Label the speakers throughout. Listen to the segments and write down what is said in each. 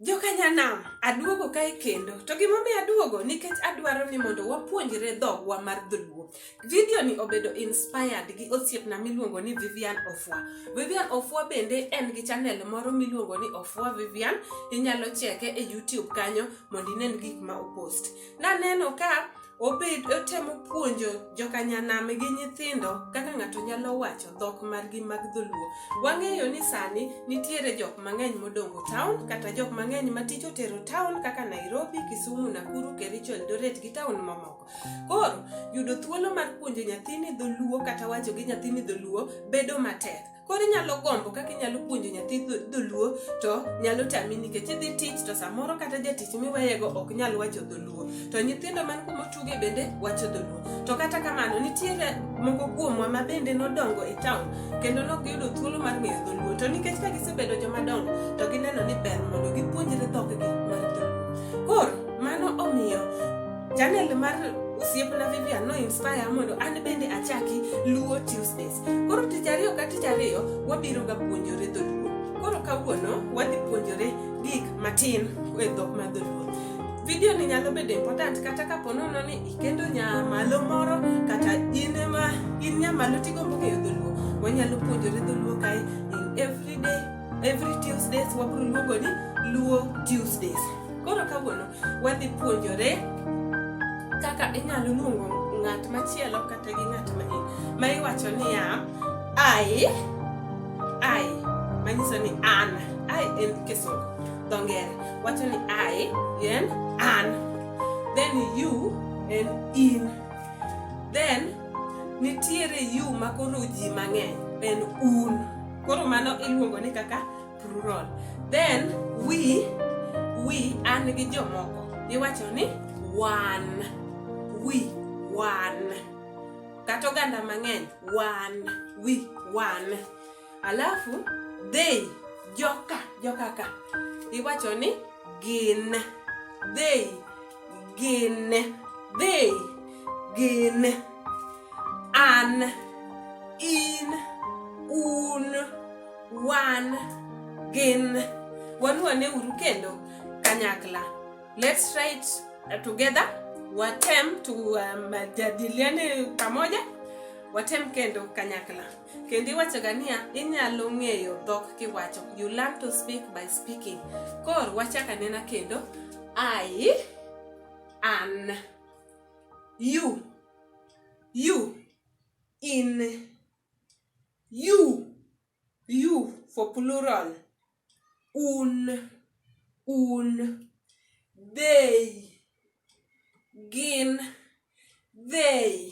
Speaker 1: Jokanyanam, aduogo kae kendo. To gimomiyo aduogo nikech adwaro ni mondo wapuonjre dhogwa mar dholuo. Vidio ni obedo inspired gi osiepna miluongo ni Vivian Ofwa. Vivian Ofwa bende en gi channel moro miluongo ni Ofwa Vivian. Inyalo cheke e YouTube kanyo mondo inen gik ma opost. Naneno ka obed otemo puonjo jokanyanam gi nyithindo kaka ng'ato nyalo wacho dhok margi mag dholuo wang'eyo ni sani nitiere jok mang'eny modongo town kata jok mang'eny ma tich otero town kaka nairobi kisumu nakuru kericho eldoret gi town mamoko koro yudo thuolo mar puonjo nyathini dholuo kata wacho gi nyathini dholuo bedo matek Koro inyalo gombo kaka inyalo puonjo nyathi dholuo to nyalo tami nikech idhi tich to samoro kata jatich miweyego ok nyal wacho dholuo to nyithindo man kuma otuge bende wacho dholuo to kata kamano nitiere moko kuomwa ma bende nodongo e taon kendo nok giyudo thuolo mar ng'eyo dholuo to nikech ka gisebedo jomadongo to gineno ni ber mondo gipuonjre dhokgi mar dholuo koro mano omiyo Channel mar osiepna Vivian no inspire mondo an bende achaki Luo Tuesdays. Koro tich ariyo ka tich ariyo wabiro ga puonjore dholuo. Koro kawuono wadhi puonjore gik matin e dhok mar dholuo. Video ni nyalo bedo important kata ka po nono ni ikendo nyamalo moro kata in ema in nyamalo tigombo ng'eyo dholuo. Wanyalo puonjore dholuo kae in everyday Every Tuesdays wabiro luongo ni Luo Tuesdays. Koro kawuono wadhi puonjore kaka inyalo luongo ng'at machielo kata gi ng'at ma in ma iwacho niya ai ai manyiso ni an ai en kisungu dho ngere wacho ni ai en an then you en in then nitiere you makoro ji mang'eny en un koro mano iluongo ni kaka plural then we we an gi jomoko iwacho ni wan we wan kata oganda mang'eny wan we wan alafu they joka jokaka iwacho ni gin they gin dhi gin an in un wan gin wanuane uru kendo kanyakla let's write uh, together watem tujadiliane uh, pamoja watem kendo kanyakla kendo iwachoga niya inyalo ng'eyo dhok kiwacho you learn to speak by speaking kor wachaka nena kendo i an you you in you you for plural un un they gin they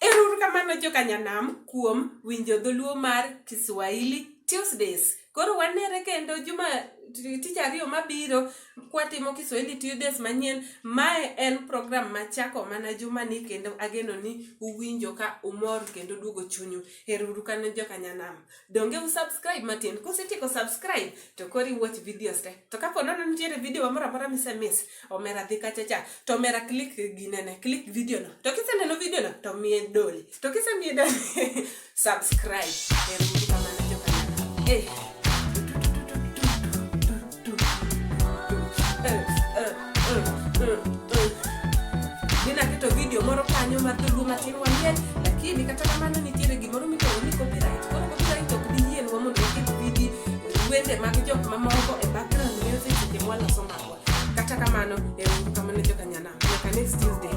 Speaker 1: Erouru kamano joka Nyanam kuom winjo dholuo mar Kiswahili Tuesdays. Koro wanere kendo juma tich ariyo mabiro kwatimo Kiswahili Tuesdays manyien. Mae en program machako mana juma ni kendo ageno ni uwinjo ka umor kendo duogo chunyu. Erouru kamano joka Nyanam. Donge u subscribe matin? Kusetieko subscribe to koro iwatch videos te. To kapo nono nitiere video moro amora misemiss omera dhi kacha cha to omera click ginene click video no to kiseneno video no to miye dole to kisemiye dole subscribe erukamana jokanana eh. Ninaketo video moro kanyo mar dholuo matin wang'eny lakini kata kamano nitiere gimoro miluongo ni copyright koro copyright ok bi yienwa mondo waket video wende mag jok mamoko e background music seche mwaloso marwa Kata kamano, euru kamano joka nyana. Nyaka next Tuesday.